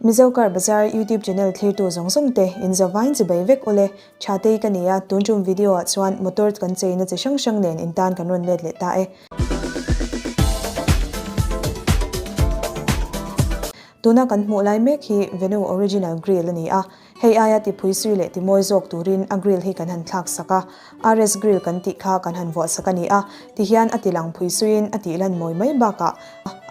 Mizo Car Bazaar YouTube channel thlirtu zawng zawng te in zavain chi bei vek ule, tha tei ka ni a, tun tum video ah chuan motor kan chei na chi hrang hrang nen in tan kan rawn let leh ta e. Tuna kan hmuh lai mek hi Venu Original Grill a ni a, Hei aia tipui zui leh timawi zawk turin a grill hi kan han thlak sak a, RS grill kan tih kha kan han vuah sak a ni a, ti hian a ti lang phui zuiin a tih lan mawi mai bakah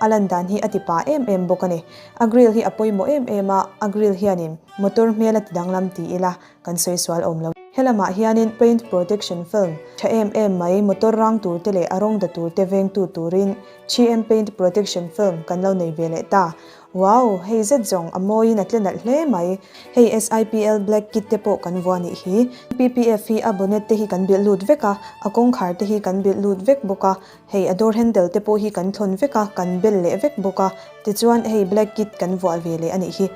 a lan dan hi a ti pa em em bawk a ni. A grill hi a pawimawh em em a, a grill hianin motor hmel a ti danglam ti ila kan sawi sual awm lo. Helamah hianin paint protection film tha em em mai motor rang tur te leh a rawng da tur te vengtu turin GM paint protection film kan lo nei ve leh ta. Wow! Hei zet zawng a mawiin a tle nalh hle mai. Hei SIPL Black kit te pawh kan vua nih hi. PPF hi a bonnet te hi kan bilh lut vek a, a kawngkhar te hi kan bilh lut vek bawk a, hei a door handle te pawh hi kan thlawn vek a, kan bel leh vek bawk a, tichuan hei black kit kan vuah ve leh a nih hi.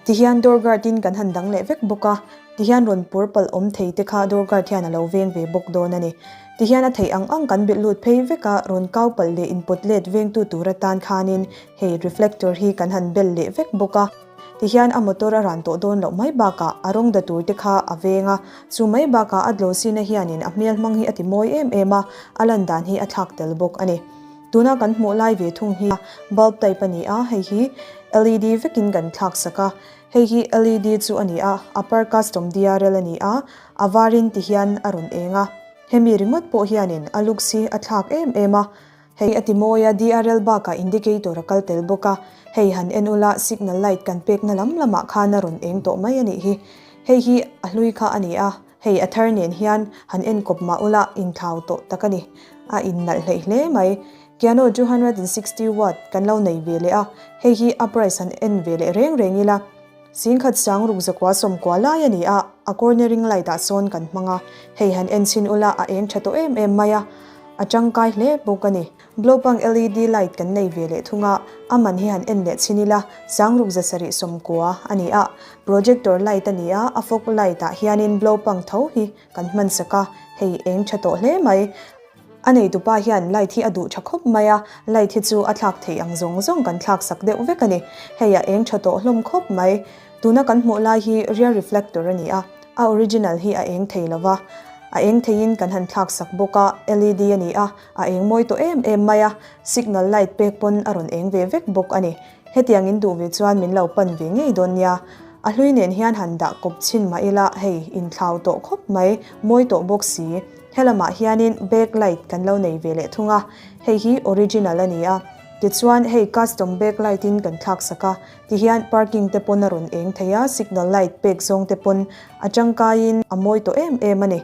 Tihian door guard in kan han dang leh vek bawk a, tihian rawn pur palh awm thei te kha door guard hian a lo veng ve bawk dawn a ni. Tihian a theih ang ang kan bilh lut phei vek a, rawn kau palh leh inpawt let vengtu tur atan khanin Hei reflector hi kan han bel leh vek bawk a, tihian a motor a ran tawh dawn loh mai bakah a rawng da tur te kha a veng a, chu mai bakah a dlawsina hianin a hmial hmang hi a ti mawi em em a, a lan dan hi a thlak tel bawk a ni. Tuna kan hmuh lai ve thung hi bulb type a ni a, hei hi LED vekin kan thlak sak a, hei hi LED chu a ni a, upper custom DRL a ni a, a varin tihian a rawn eng a, hemi ringawt pawh hianin a looks hi a thlak em em a, Hei a ti mawi a, DRL bakah indicator a kal tel bawk a, hei han en ula, signal light kan pekna lam lamah khan a rawn eng tawh mai a nih hi. Hei hi a hlui kha a ni a, hei a thar nen hian han en kawp mah ula, inthlau tawh tak a ni. A innalh hleih hle mai. Kiano two hundred and sixty watt kan lo nei ve leh a, hei hi uprice han en ve leh reng reng ila. Singkhat sang ruk zakua sawm kua lai a ni a, a corner ring light ah sawn kan hmang a, hei han en chhin ula a eng tha tawh em em mai a, a tangkai hle bawk a ni. Glow pang LED light kan nei ve leh thung a, a man hi han en leh chhin ila, sang ruk za sarih sawm kua a ni a, projector light a ni a, a fog light ah hianin glow pang tho hi kan hmansak a, hei eng tha tawh hle mai. A neitu pa hian light hi a duh tha khawp mai a, light hi chu a thlak theih ang zawng zawng kan thlak sak deuh vek a ni. Hei a eng tha tawh hlawm khawp mai. Tuna kan hmuh lai hi rear reflector a ni a, a original hi a eng thei lo va. A eng theiin kan han thlak sak bawk a, LED a ni a, a eng mawi tawh em em mai a, signal light pek pawn a rawn eng ve vek bawk a ni. Hetiang in duh ve chuan min lo pan ve ngei dawn nia. A hlui nen hian han dah kawp chhin mah ila hei, inthlau tawh khawp mai, mawi tawh bawk si. Helamah hianin backlight kan lo nei ve leh thung a, hei hi original a ni a, tichuan hei custom backlight in kan thlaksak a, ti hian parking te pawn a rawn eng thei a, signal light pek zawng te pawn a tangkaiin a mawi tawh em em a ni.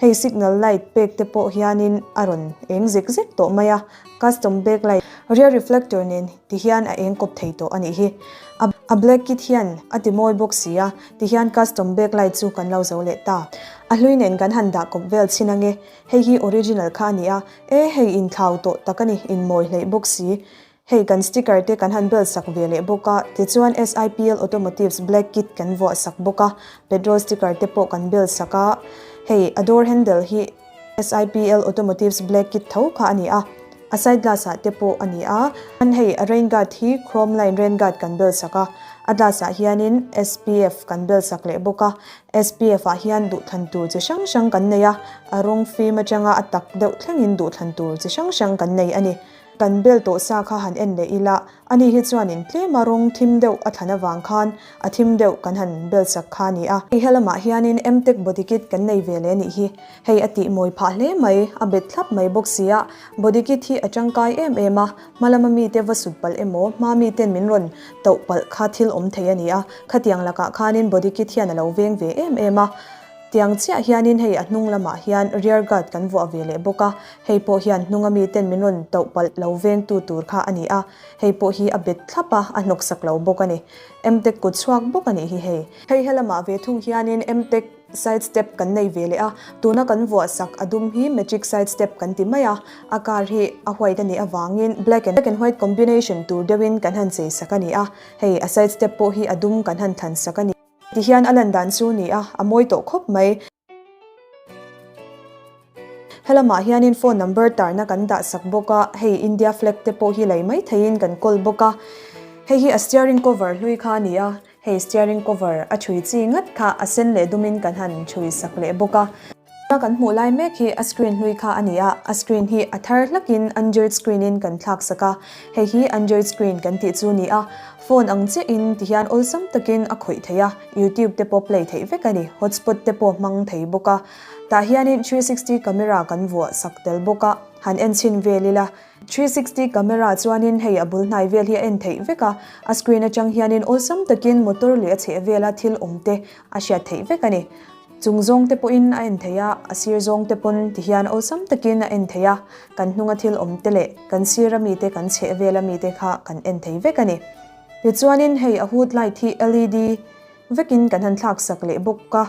Hei signal light pek te pawh hianin a rawn eng zek zek tawh mai a, custom backlight. Rear reflector nen ti hian a eng kawp thei tawh a nih hi, a black kit hian a ti mawi bawk si a, tihian custom back light chu kan lo zo leh ta. A hlui nen kan han dah kawp vel chhin ange, hei hi original kha a ni a, e hei in thlau tawh tak a ni, in mawi hleih bawk si. Hei kan sticker te kan han bel sak ve leh bawk a, tichuan SIPL Automotives black kit kan vuah sak bawk a, petrol sticker te pawh kan bel sak a, hei a door handle hi, SIPL Automotives Black kit tho kha a ni a, a side glass ah te pawh a ni a. Chuan hei rain guard hi chrome line rain guard kan bel sak a, a glass ah hianin SPF kan bel sak leh bawk a, SPF ah hian duhthlan tur chi hrang hrang kan nei a, a rawng fim atanga a tak deuh thlengin duhthlan tur chi hrang hrang kan nei a ni. Kan bel tawh sa kha han en leh ila, ani hi chuan in tlema rawng thim deuh a thlan avang khan a thim deuh kan han bel sak kha a ni a. Hei helamah hianin Mtec bodykit kan nei ve leh nih hi, hei a tih mawi phah hle mai, a bet thlap mai bawk sia, bodykit hi a tangkai em em a, hmalama mite va sut palh emaw hma miten min rawn tauh palh kha thil awm thei a ni a, khatiang lakah khanin bodykit hian a lo veng ve em em a. Tiang chiah hianin hei a hnung lamah hian rear guard kan vuah ve leh bawk a, hei pawh hian hnunga miten min rawn toh palh lo vengtu tur kha a ni a, hei pawh hi a bet thlap a, a hnawksak lo bawk a ni. Mtec kut chhuak bawk a nih hi hei. Hei helamah ve thung hianin Mtec side step kan nei ve leh a, tuna kan vuah sak a dum hi magic side step kan ti mai a, a car hi a white a nih avangin black and white combination tur deuhin kan han chei sak a ni a, hei a side step pawh hi a dum kan han thlan sak a ni. Ti hian a lan dan chu ni a, a mawi tawh khawp mai. Helamah hianin phone number tarna kan dah sak bawk a, hei India flag te pawh hi lei mai theiin kan call bawk a. Hei hi a steering cover hlui kha a ni a, hei steering cover a ṭhui chi ngat kha a sen leh dumin kan han ṭhui sak leh bawk a. Tuna kan hmuh lai mek hi a screen hlui kha a ni a, a screen hi a thar hlakin Android screen in kan thlak sak a, hei hi Android screen kan tih chu ni a, phone ang chiah in ti hian awlsam takin a khawih theih a, YouTube te pawh play theih vek a ni, hotspot te pawh hmang thei bawk a, tah hianin three sixty camera kan vuah sak tel bawk a, han en chhin vel ila, three sixty camera chuanin hei a bul hnai vel hi a en theih vek a, a screen atang hianin awlsam takin motor leh a chheh vela thil awm te a hriat theih vek a ni. Chung zawngte pawhin a en thei a, a sir zawngte pawn ti hian awlsam takin a en thei a, kan hnunga thil awmte leh kan sira mite kan chheh vela mite kha kan en thei vek a ni. Tichuanin hei a hut light hi LED vekin kan han thlaksak leh bawk a,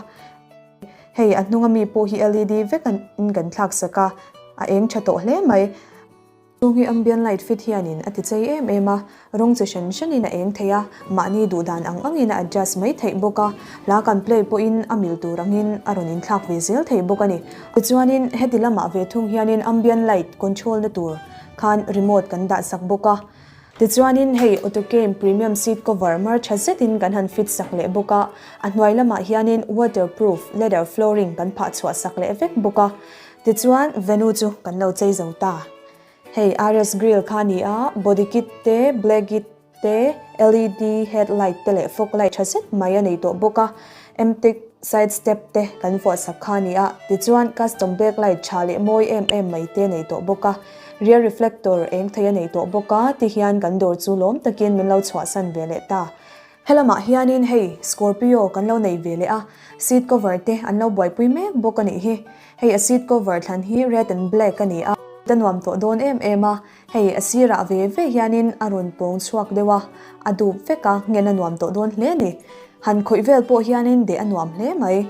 hei a hnunga mi pawh hi LED vekin kan thlaksak a, a eng tha tawh hle mai. Chung hi ambient light fit hianin a ti chei em em a, rawng chi hran hranin a eng thei a, mahni duh dan ang angin a adjust mai theih bawk a, hla kan play pawhin a mil tur angin a rawn inthlak ve zel thei bawk a ni. Tichuanin heti lamah ve thung hianin ambient light control na tur khan remote kan dah sak bawk a, tichuanin hei Autocam Premium seat cover mar tha zetin kan han fit sak leh bawk a, a hnuai lamah hianin waterproof leather flooring kan phah chhuah sak leh vek bawk a, Tichuan venue chu kan lo chei zo ta. Hei Ares Grill kha ni a, body kit te, black it te, LED head light te leh fog light tha zet mai a nei tawh bawk a, Emtech side step te kan vuah sak kha ni a, tichuan custom back light tha leh mawi em em mai te a nei tawh bawk a, rear reflector eng thei a nei tawh bawk a, ti hian kan dawr chu lawm takin min lo chhuahsan ve leh ta. Helamah hianin hei Scorpio kan lo nei ve leh a, seat cover te an lo buaipui mek bawk a nih hi. Hei a seat cover thlan hi red and black a ni a, ta nuam tawh dawn em em a, hei a sirah ve ve hianin a rawn pawng chhuak deuh a, a dup vek a, ngen a nuam tawh dawn hle ni. Han khawih vel pawh hianin deh a nuam hle mai.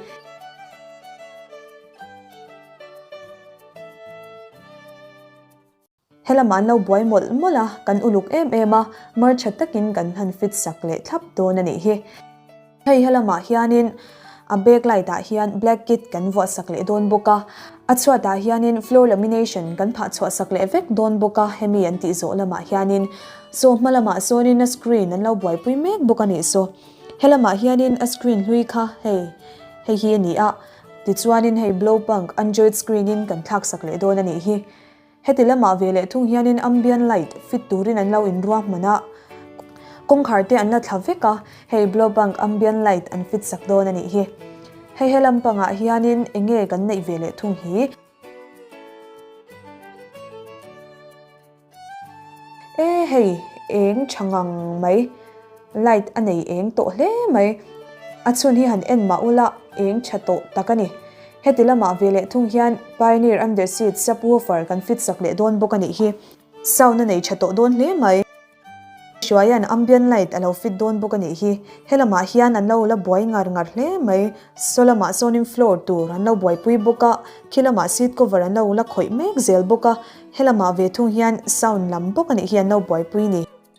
He lam an lo buai mawlh mawlh a, kan uluk em em a, mar tha takin kan hlan fit sak leh thlap dawn a nih hi. Hei he lamah hianin a back light ah hian black kit kan vuah sak leh dawn bawk a, a chhuat ah hianin floor lamination kan phah chhuah sak leh vek dawn bawk a, hemi an tih zawh lamah hianin saw hma lamah sawnin a screen an lo buai pui mek bawk a nih saw. He lamah hianin a screen hlui kha hei hei hi a ni a, tichuanin hei blow punk android screen in kan thlak sak leh dawn a nih hi. Heti lama ve leh thung hianin ambient light fit turin an lo inruahman a, kawngkhar te an la thla vek a, hei Blowbank ambient light an fit sak dawn a nih hi. Hei he lam pangah hianin eng nge kan neih ve leh thung hi? E hei, eng tha ngang mai. Light a nei eng tawh hle mai. A chhun hi han en mah ula, eng tha tawh tak a ni. Heti lamah ve leh thung hian Pioneer Under Siege subwoofer kan fit sak leh dawn bawk a nih hi. Sound a nei tha tawh dawn hle mai. Hruaia'n ambient light a lo fit dawn bawk a nih hi. He lamah hian an lo la buai ngar ngar hle mai. Saw lamah sawnin floor tur an lo buaipui bawk a, khi lamah seat cover an lo la khawih mek zel bawk a. He lamah ve thung hian sound lam bawk a nih hi an lo buaipui ni.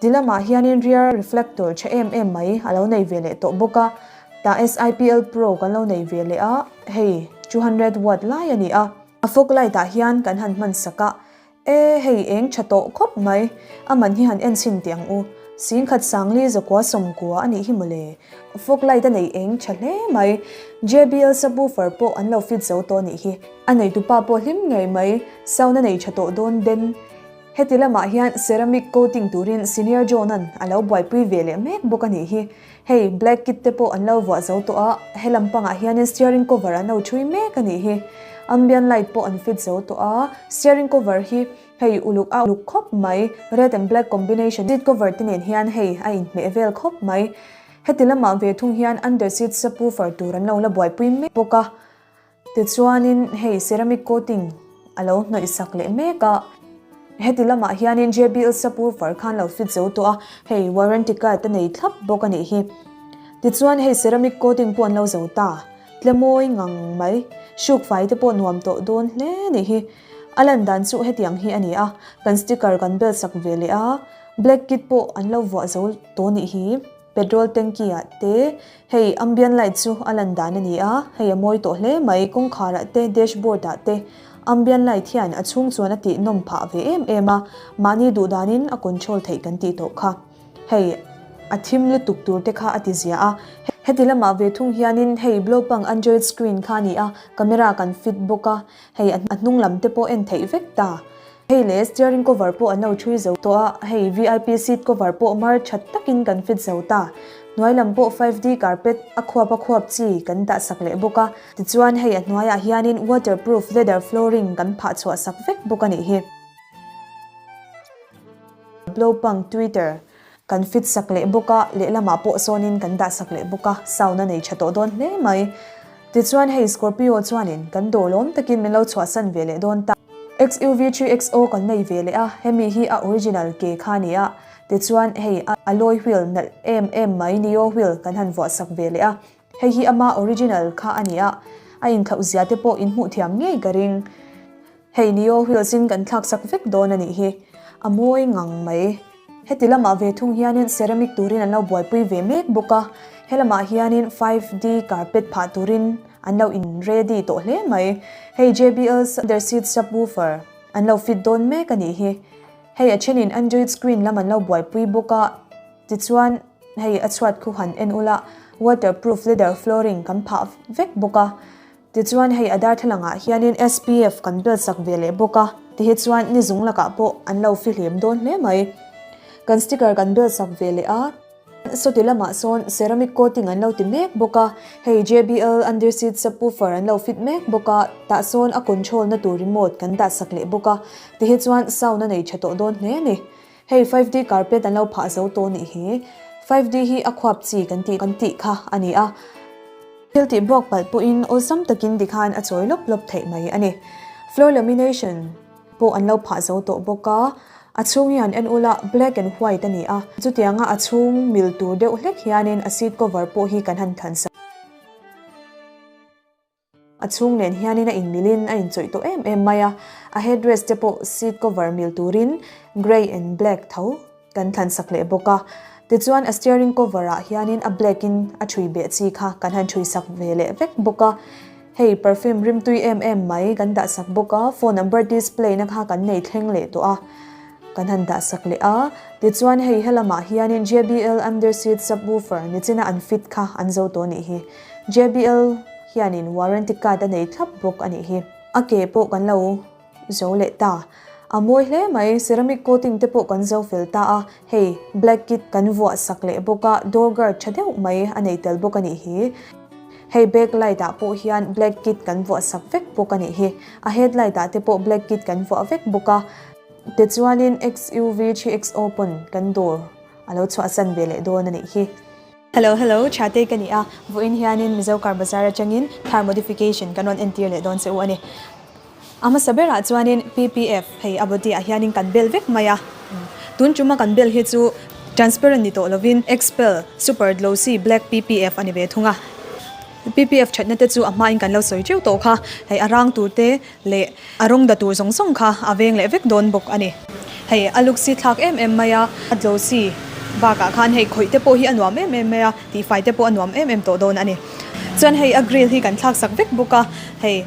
Ti lamah hianin riar reflector tha em em mai a lo nei ve leh tawh bawk a, tah SIPL Pro kan lo nei ve leh a, hei two hundred watt lai a ni a. A fog light ah hian kan han hman sak a, e hei eng tha tawh khawp mai, a man hi han en chhin teh ang u, Singkhat Sangli Zakua Sawmkua a nih hi maw le, fog light a nei eng tha hle mai, JBL subwoofer pawh an lo fit zo tawh a nih hi, a neitu pa pawh hlim ngei mai, sound a nei tha tawh dawn Ben. Heti lamah hian ceramic coating turin senior John-a'n a lo buaipui ve leh mek bawk a nih hi. Hei, black kit te pawh an lo vuah zo tawh a, he lam pangah hianin steering cover a no thui mek a nih hi. Ambient light pawh an fit zo tawh a, steering cover hi hei uluk a uluk khawp mai, red and black combination seat cover te nen hian hei a inhmeh vel khawp mai. Heti lamah ve thung hian under seat subwoofer tur an lo la buaipui mek bawk a. Tichuanin hei ceramic coating a lo hnawih sak leh mek a, heti lamah hianin JBL Sapur far khan lo fit zo tawh a, hei warranty card a nei thlap bawk a nih hi. Tichuan hei ceramic coating pawh an lo zo ta tle mawi ngang mai, shook fai te pawh nuam tawh dawn hle nih hi. A lan dan chu heti ang hi a ni a, kan sticker kan bel sak ve leh a, black kit pawh an lo vuah zo tawh nih hi. Petrol tanki ah te hei ambient light chu a lan dan a ni a, hei a mawi tawh hle mai, kawngkhar ah te dashboard ah te ambient light hian a chhung chuan a tih nawm phah ve em em a, mahni duh dan in a control theih kan tih tawh kha hei a thim lutuk tur te kha a ti zia a, heti lam ah ve thung hian in hei blow pang android screen kha a ni a, camera kan fit bawk a, hei a hnung lam te pawh en theih vek ta. Hei leh steering cover pawh a no thui zo tawh a, hei vip seat cover pawh mar that takin kan fit zo ta. Hnuai lam pawh five D carpet a khuap a khuap chi kan dah sak leh bawk a, tichuan hei a hnuaiah hianin waterproof leather flooring kan phah chhuah sak vek bawk a nih hi. Blowpunk Twitter, Kan fit sak leh bawk a, lehlamah pawh sawnin kan dah sak leh bawk a, sound a nei tha tawh dawn hle mai. Tichuan hei Scorpio chuanin kan dawh lawm takin min lo chhuahsan ve leh dawn ta. XUV three XO kan nei ve leh a, hemi hi a original ke kha a ni a, tichuan hei a alloy wheel nalh em em mai Neo wheel kan han vuah sak ve leh a, Hei hi ama original kha a ni a, a inthloh zia te pawh in hmuh thiam ngei ka ring. Hei Nio reels in kan thlak sak vek dawn a nih hi, a mawi ngang mai. Heti lamah ve thung hianin ceramic turin an lo buaipui ve mek bawk a, he lamah hianin five D carpet phah turin an lo in ready tawh hle mai. Hei JBL's under seat subwoofer an lo fit dawn mek a nih hi, hei a thenin Android screen lam an lo buaipui bawk a, Tichuan, hei a chhuat khu han en ula waterproof leather flooring kan phah vek bawk a. Tichuan, hei a darthlangah hianin SPF kan belsak ve leh bawk a. Ti hi chuan ni zung lakah pawh an lo fihlem dawn hle mai. Kan sticker kan belsak ve leh a. Saw ti lamah sawn ceramic coating an lo ti mek bawk a. Hei JBL underseat subwoofer an lo fit mek bawk a. Tah sawn a control na tur remote kan dahsak leh bawk a. Ti hi chuan sound a nei tha tawh dawn hle a ni. Hei five D carpet an lo phah zo tawh nih hi, five D hi a khuap chi kan tih kan tih kha a ni a, thil tih bawk palh pawhin awlsam takin ti khan a chawi lawp lawp theih mai a ni. Floor lamination pawh an lo phah zo tawh bawk a, a chhung hian en ula black and white a ni a, chutianga a chhung mil tur deuh hlek hianin a seat cover pawh hi kan han thlan sa. A chhung nen hianin a inmilhin a inchawih tawh em em mai a, a headdress te pawh seat cover mil turin grey and black tho kan thlansak leh bawk a, tichuan a steering cover ah hianin a black in a thui beh chi kha kan han thui sak ve leh vek bawk a, hei perfume rimtui em em mai kan dah sak bawk a, phone number display na kha kan nei thleng leh tawh a, kan han dah sak leh a, tichuan hei helamah hianin JBL under seat subwoofer ni china an fit kha an zo tawh a nih hi. JBL hianin warranty card a nei thlap bawk a nih hi. A ke pawh kan lo zo leh ta. A mawi hle mai, ceramic coating te pawh kan zo fel ta a, hei black kit kan vuah sak leh bawk a, door guard tha deuh mai a nei tel bawk a nih hi. Hei back light ah pawh hian black kit kan vuah sak vek bawk a nih hi. A headlight ah te pawh black kit kan vuah vek bawk a. Tichuanin XUV 3XO pawn kan door a lo chhuahsan ve leh dawn a nih hi. Hello hello, Tha Tei ka ni a, vawiin hianin Mizo Car Bazar atangin thar modification kan rawn entir leh dawn che u a ni. A hmasa berah chuanin PPF hei a body ah hianin kan bel vek mai a, tun tuma kan bel hi chu transparent ni tawh lovin Xpel Super Glossy Black PPF a ni ve thung a, PPF thatna te chu a hmain kan lo sawi teuh tawh kha, hei a rang tur te leh a rawng da tur zawng zawng kha a veng leh vek dawn bawk a ni. Hei a luksi thlak em em mai a, a dlosi bakah khan hei khawih te pawh hi a nuam em em mai a, tihfai te pawh a nuam em em tawh dawn a ni. Chuan hei a grill hi kan thlak sak vek bawk a, hei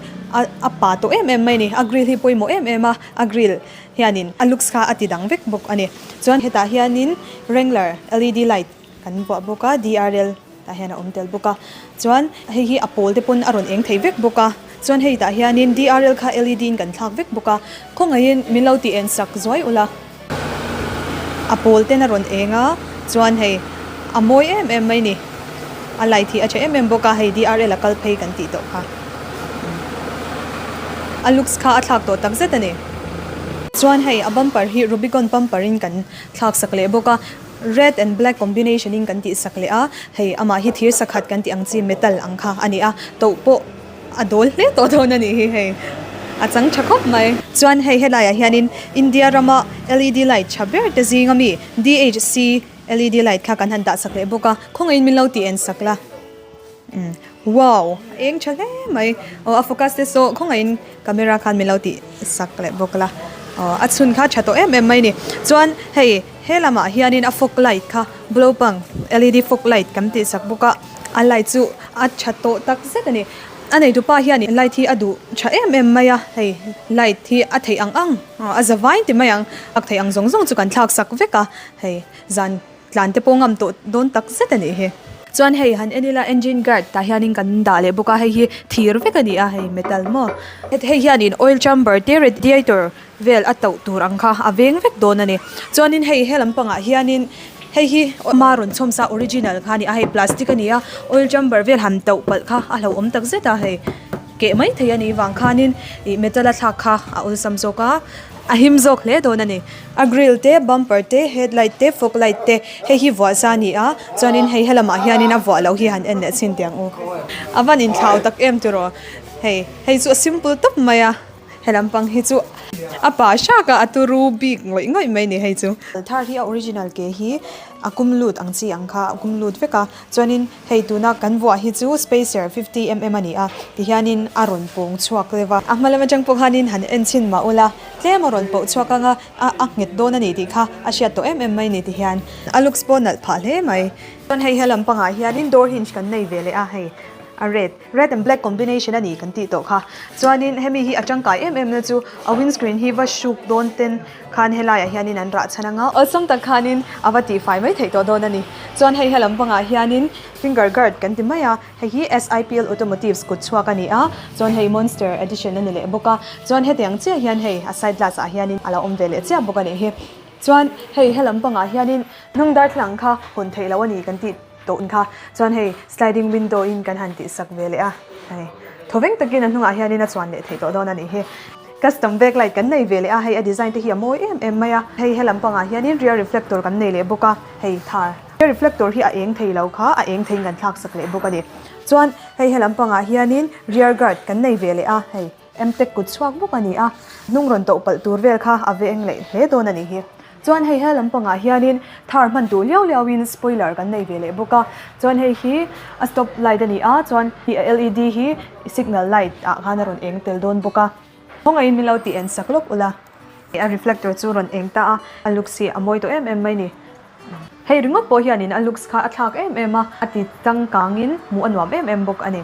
a pa tawh em em mai a ni, a grill hi pawimawh em em a, a grill hianin a looks kha a ti dang vek bawk a ni. Chuan hetah hianin Wrangler LED light Kan vuah bawk a, DRL tah hian a awm tel bawk a. Chuan hei hi a pawl te pawn a rawn eng thei vek bawk a. Chuan hei tah hianin DRL kha LED in kan thlak vek bawk a. Khawngaihin min lo ti en sak zuai ula, a pawl ten a rawn eng a, chuan hei a mawi em em mai ni, a light hi a che em em bawk a, hei DRL a kal phei kan tih tawh kha. A looks kha a thlak tawh tak zet a ni. Chuan hei a bumper hi Rubicon bumper in kan thlak sak leh bawk a. Red and Black combination in kan tihsak leh a, hei amah hi thir sakhat kan tih ang chi metal ang kha a ni a, toh pawh a dawl hle tawh dawn a nih hi hei, a chang tha khawp mai. Chuan hei helai ah hian in India ram a LED light tha ber te zing a mi DHC LED light kha kan han dah sak leh bawk a, khawngaih in min lo ti en sak la. Wow! A eng tha hle mai. Aw a focus te saw khawngaihin camera khan min lo tih sak leh bawk la. Aw a chhun kha tha tawh em em mai ni. Chuan hei he lamah hianin a fog light kha blo pang led fog light kan tih sak bawk a, a light chu a tha tawh tak zet a ni. A neitu pa hian in light hi a duh tha em em mai a, hei light hi a theih ang ang, a za vain ti mai ang. Sak theih ang zawng zawng chu kan thlak sak vek a, hei zan. Tlan te pawh ngam tawh dawn tak zet a nih hi. Chuan hei han en ila engine guard tah hianin kan dah leh bawk a, hei hi thir vek a ni a, hei metal maw. Hei hianin oil chamber te radiator vel a tauh tur ang kha a veng vek dawn a ni. Chuanin hei he lam pangah hianin hei hi ama rawn chhawm sa original kha a ni a, hei plastic a ni a, oil chamber vel han tauh palh kha a hlauhawm tak zet a, hei keh mai thei a nih vang khanin ih metal a thlak kha a awlsam zawk a, a him zawk hle dawn a ni. A grill te, bumper te, headlight te, fog light te hei hi vuah sa a ni a, chuanin hei helam ah hianin a vuah loh hi han en leh chhin ti ang u. A van inthlau tak em tiraw? Hei, hei chu a simple tawp mai a, helam pang hi chu a pa hrak a, a tu ru bik ngawih ngawih mai ni hei chu. Thar hi a original ke hi a kum lut ang chi ang kha, a kum lut vek a, chuanin Hei tuna kan vuah hi chu Spacer fifty mm a ni a, ti hianin a rawn pawng chhuak leh va. A hma lama tang pawh khanin han en chhin mah ula, tlem a rawn poh chhuak ang a, a nghet dawn a nih tih kha a hriat tawh em em mai ni ti hian. A looks pawh nalh phah hle mai. Chuan hei hian lampangah hianin door hinge kan nei ve leh a, hei a red. Red and black combination a ni kan tih tawh kha. Chuanin hemi hi a tangkai em em na chu a windscreen hi va hruk dawn ten khan helaiah hianin an rah chhan ang a. Awlsam tak khanin a va tihfai mai theih tawh dawn a ni. Chuan hei hialam vangah hianin finger guard kan ti mai a, hei hi SIPL Automotives kut chhuak a ni a, chuan hei Monster Edition a ni leh bawk a. Chuan heti ang chiah hian hei a side glass ah hianin a lo awm ve leh chiah bawk a nih hi. Chuan hei hialam pangah hianin hnung darthlalang kha hun theih loh a ni kan tih. Tawh kha chuan hei sliding window in kan han tih sak ve leh a, hei thaw veng takin a hnungah hian in a chuan leh thei tawh dawn a nih hi. Custom backlight kan nei ve leh a, hei a design te hi a mawi em em mai a, hei hela pangah hian in rear reflector kan nei leh bawk a, hei thar rear reflector hi a eng thei lo kha a eng theiin kan thlak sak leh bawk a ni. Chuan hei hela pangah hian in rear guard kan nei ve leh a, hei. Mtec kut chhuak bawk a ni a, hnung rawn tawh palh tur vel kha a ve eng leh hle dawn a nih hi. Chuan hei he lam pangah hianin thar hman duh liau liauin spoiler kan nei ve leh bawk a, chuan hei hi a stop light a ni a, chuan led hi signal light ah khan a rawn eng tel dawn bawk a, khawngaihin min lo ti en sak lawk ula, a reflector chu rawn eng ta a, a looks hi a mawi tawh em em mai ni, hei ringawt pawh hianin a looks kha a thlak em em a, a ti changkangin hmuh a nuam em em bawk a ni.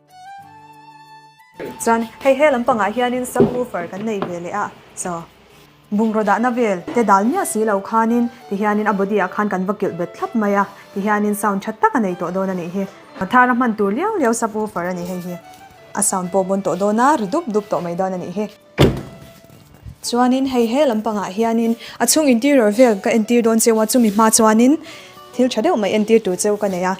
Chuan hei he lam pangah hianin subwoofer kan nei ve leh a, so bungraw dahna vel te dal miah si lo khanin tihianin a body ah khan kan va kilh bet thlap mai a, tihianin sound tha tak a nei tawh dawn a nih hi. Thar a hman tur liau liau subwoofer a ni hei hi, a sound pawh bawn tawh dawn a, ri dup dup tawh mai dawn a nih hi. Chuanin hei he lam pangah hianin a chhung interior vel ka entir dawn che a, chumi hma chuanin thil tha deuh mai entir tur che ka nei a.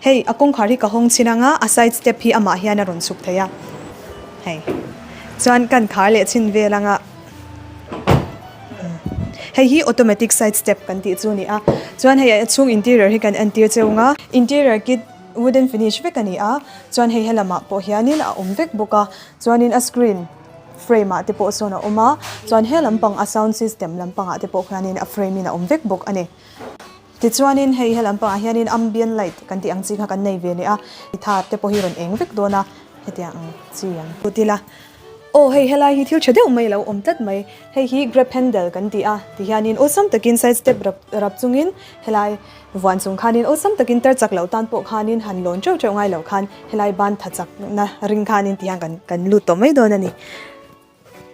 Hei a kawngkhar hi ka hawng chhin anga a side step hi amah hian a rawn chhuk thei a. Hei chuan ka inkhar leh chhin vel anga hei hi automatic side step kan tih chu a ni a. Chuan hei a chhung interior hi kan entir che anga interior kit. Wooden finish vek a ni a, chuan hei he lamah pawh hianin a awm vek bawk a, chuanin a screen frame ah te pawh sawn a awm a, chuan he lampang a sound system lampangah te pawh hianin a frame in a awm vek bawk a ni. Tichuanin hei he lampangah hianin ambient light kan tih ang chi kha kan nei ve leh a, ti thar te pawh hi rawn eng vek dawn a, hetiang ang chi ang. Tih la, Aw hei helai hi thil tha deuh mai lo awm tlat mai, hei hi grape handle kan ti a, ti hianin awlsam takin side step rap rap chungin helai vuan chung khanin awlsam takin tar chak loh tan pawh khanin han lawn teuh teuh ngai lo khan helai ban tha chakna ring khanin ti hian kan kan lut tawh mai dawn a ni.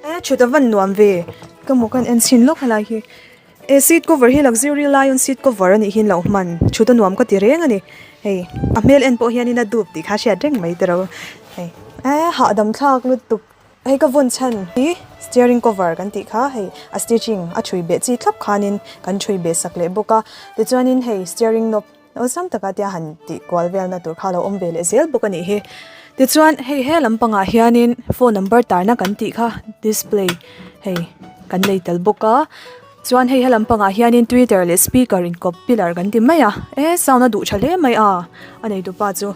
Aa thut a van nuam ve ka mawk a, en chhin lawk helai hi He seat cover hi luxury lion seat cover anih hian lo hman thut a nuam ka ti reng ani hei a hmel en pawh hian in a dup tih kha a hriat reng mai te ro hei eh hahdam thlak lutuk hei ka vawn chhan hi steering cover kan tih kha hei a stitching a thui beh chi thlap khan in kan thui beh sak leh bawk a tichuan in hei steering knob-- Lo sam taka tia han tih kual velna tur kha a lo awm ve leh zel bawk a nih hi. Tichuan hei he lam pangah hianin phone number tarna kan tih kha display hei kan nei tel bawk a. Chuan hei he lam pangah hianin twitter leh speaker inkawp pillar kan ti mai a. E sound a duh tha hle mai a, a neitu pa chu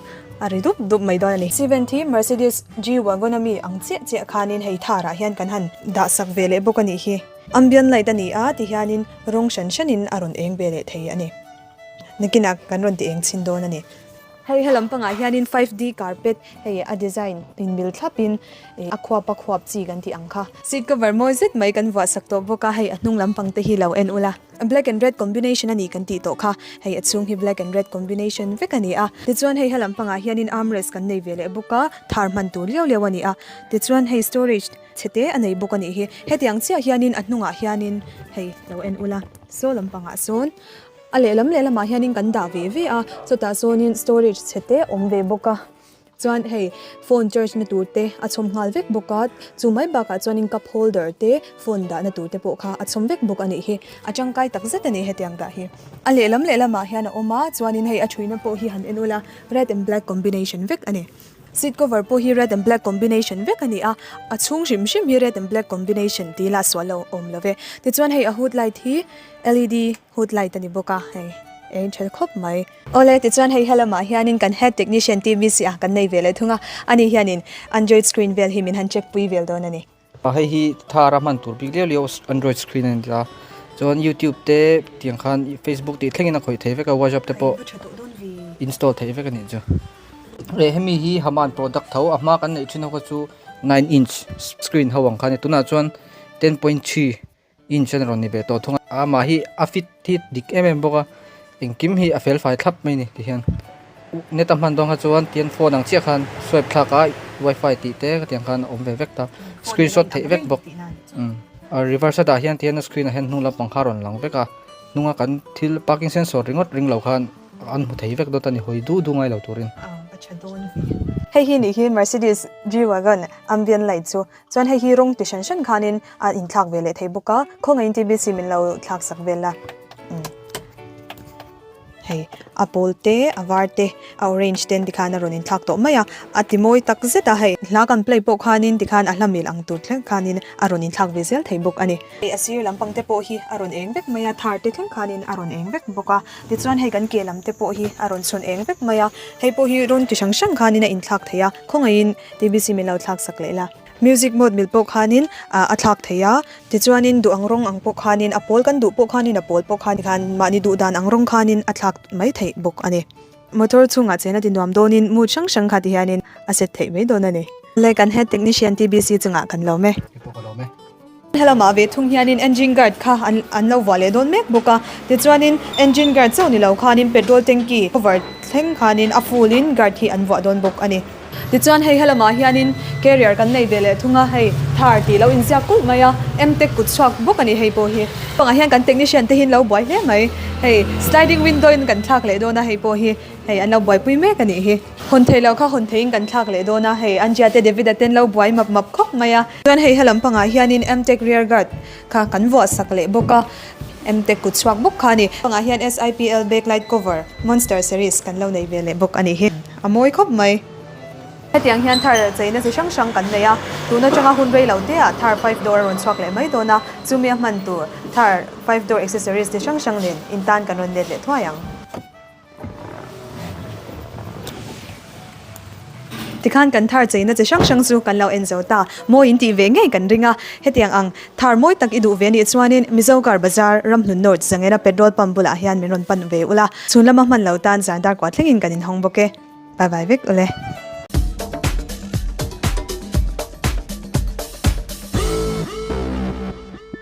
a ri dup dup mai dawn a ni. Seventy Mercedes G-Wagon a mi ang chiah chiah khanin hei tharah hian kan han dah sak ve leh bawk a nih hi. Ambient light a ni a ti hianin rawng hran hranin a rawn eng ve leh thei a ni. Nakinah kan rawn ti eng chhin dawn a ni. Hei helam pangah hianin five D carpet hei a design inbel thlapin a khuap a khuap chi kan tih ang kha. Seat cover mawi zet mai kan vuah sak tawh bawk a, hei a hnung lam pang te hi lo en ula black and red combination a ni kan tih tawh kha. Hei a chhung hi black and red combination vek a ni a. Tichuan hei helam pangah hianin armrest kan nei ve leh bawk a, thar hman tur liau liau a ni a. Tichuan hei storage chhe te a nei bawk a nih hi. Hetiang chiah hianin a hnungah hianin hei lo en ula saw lampangah sawn A lehlam lehlamah hianin kan dah ve ve a, chutah sawnin storage chhe te awm ve bawk a, chuan hei phone charge na tur te a chhawm nghal vek bawk a, chu mai bakah chuanin cup holder te phone dahna tur te pawh kha a chhawm vek bawk a nih hi, a tangkai tak zet a ni hetiang dah hi. A lehlam lehlamah hian a awm a, chuanin hei a thuina pawh hi han en awlh a, red and black combination vek a ni. Seat cover pawh hi red and black combination vek a ni a, a chhung hrim hrim hi red and black combination tih ila suah lo awm lo ve. Tichuan hei a hood light hi LED hood light a ni bawk a, hei a in ṭhel khawp mai. Awle, tichuan hei he lamah hianin kan head technician TV siah kan nei ve leh thung a, ani hianin Android screen vel hi min han check pui vel dawn a ni. A hei hi thar a hman tur bik leh leh a android screen a ni a chuan youtube te tiang khan facebook tih thleng in a khawih thei vek a whatsapp te pawh install thei vek a nih chu e hemi hi haman product tho a hma kan neih thin ho kha chu nine inch screen ho ang kha a ni tunah chuan ten point three Inchen rawn ni ve tawh thung a, a mah hi a fit hi dik em em bawk a, engkim hi a fel fai thlap mai ni tihian net a hman dawn kha chuan tihian phone ang chiah khan swipe thlak a wifi tih te ka tiang khan a awm ve vek ta screenshot theih vek bawk umm a reverse a dah hian tihian a screen ah hian hnung lampang kha a rawn lang vek a, hnunga kan thil parking sensor ringawt ring lo khan an hmu thei vek dawt a ni hawi duh duh ngai lo turin. Hei hi nih hi Mercedes G-Wagon ambient light chu. Chuan hei hi rawng ti hran hran khanin a in thlak ve leh thei bawk a, khawngaihin TBC min lo thlak sak vel a. Hei a pawl te, a var te, a orange te an ti khan a rawn in thlak tawh mai a, a ti mawi tak zet a hei. Hla kan play pawh khanin ti khan a hla mil ang tur thleng khanin a rawn in thlak ve zel thei bawk a ni. Hei a sir lam pang te pawh hi a rawn eng vek mai a, thar te thleng khanin a rawn eng vek bawk a. Tichuan hei kan ke lam te pawh hi a rawn chhun eng vek mai a, hei pawh hi rawng chi hran hran khanin a in thlak thei a, khawngaihin. TBC min lo thlak sak leh la. Music mode mil pawh khanin a thlak thei a, tichuanin duh ang rawng ang pawh khanin a pawl, kan duh pawh khanin a pawl pawh khanin han mahni duh dan ang rawng khanin a thlak mai theih bawk a ni. Motor chhungah chen a ti nuam dawnin mood hrang hrang khat hianin a set theih mai dawn a ni. Leh kan head technician TBC chungah kan lawm e. Helamah ve thung hianin engine guard kha an lo vuah leh dawn mek bawk a, tichuanin engine guard chauh ni lo khanin petrol tanky cover thleng khanin a full in guard hi an vuah dawn bawk a ni. Tichuan hei helamah hianin carrier kan nei ve leh thung a, hei thar tih lo inziak kulh mai a, em tech kut chhuak bawk a ni hei pawh hi. Chupangah hian kan technician te hi an lo buai hle mai, hei sliding window in kan thlak leh dawn a hei pawh hi, hei an lo buaipui mek a nih hi. Hawn theih loh kha hawn theih in kan thlak leh dawn a, hei an Jia te David a ten lo buai map map khawp mai a. Chuan hei halam pangah hian in Mtec rear guard kha kan vuah sak leh bawk a, Mtec kut chhuak bawk kha a ni. Pangah hian SIPL backlight cover Monster series kan lo nei ve leh bawk a ni hi, a mawi khawp mai. Hetiang hian thar cheina chi hrang hrang kan nei a, tun atanga hun rei lo te ah thar five door a rawn chhuak leh mai dawn a, chumi a hman tur thar five door accessories chi hrang hrang nen in tan kan rawn let leh thuai ang. Tikhan kan thar cheina chi hrang hrang chu kan lo en zo ta. Mawi in tih ve ngei kan ring a, hetiang ang, Thar mawi tak i duh ve nih chuanin Mizo Car Bazar, Ramhlun North Zangena petrol pump bulah hian min rawn pan ve ula, chhun lama hman lo tan zan dar kuah thlengin kan inhawng bawk e. Bye bye vek ule.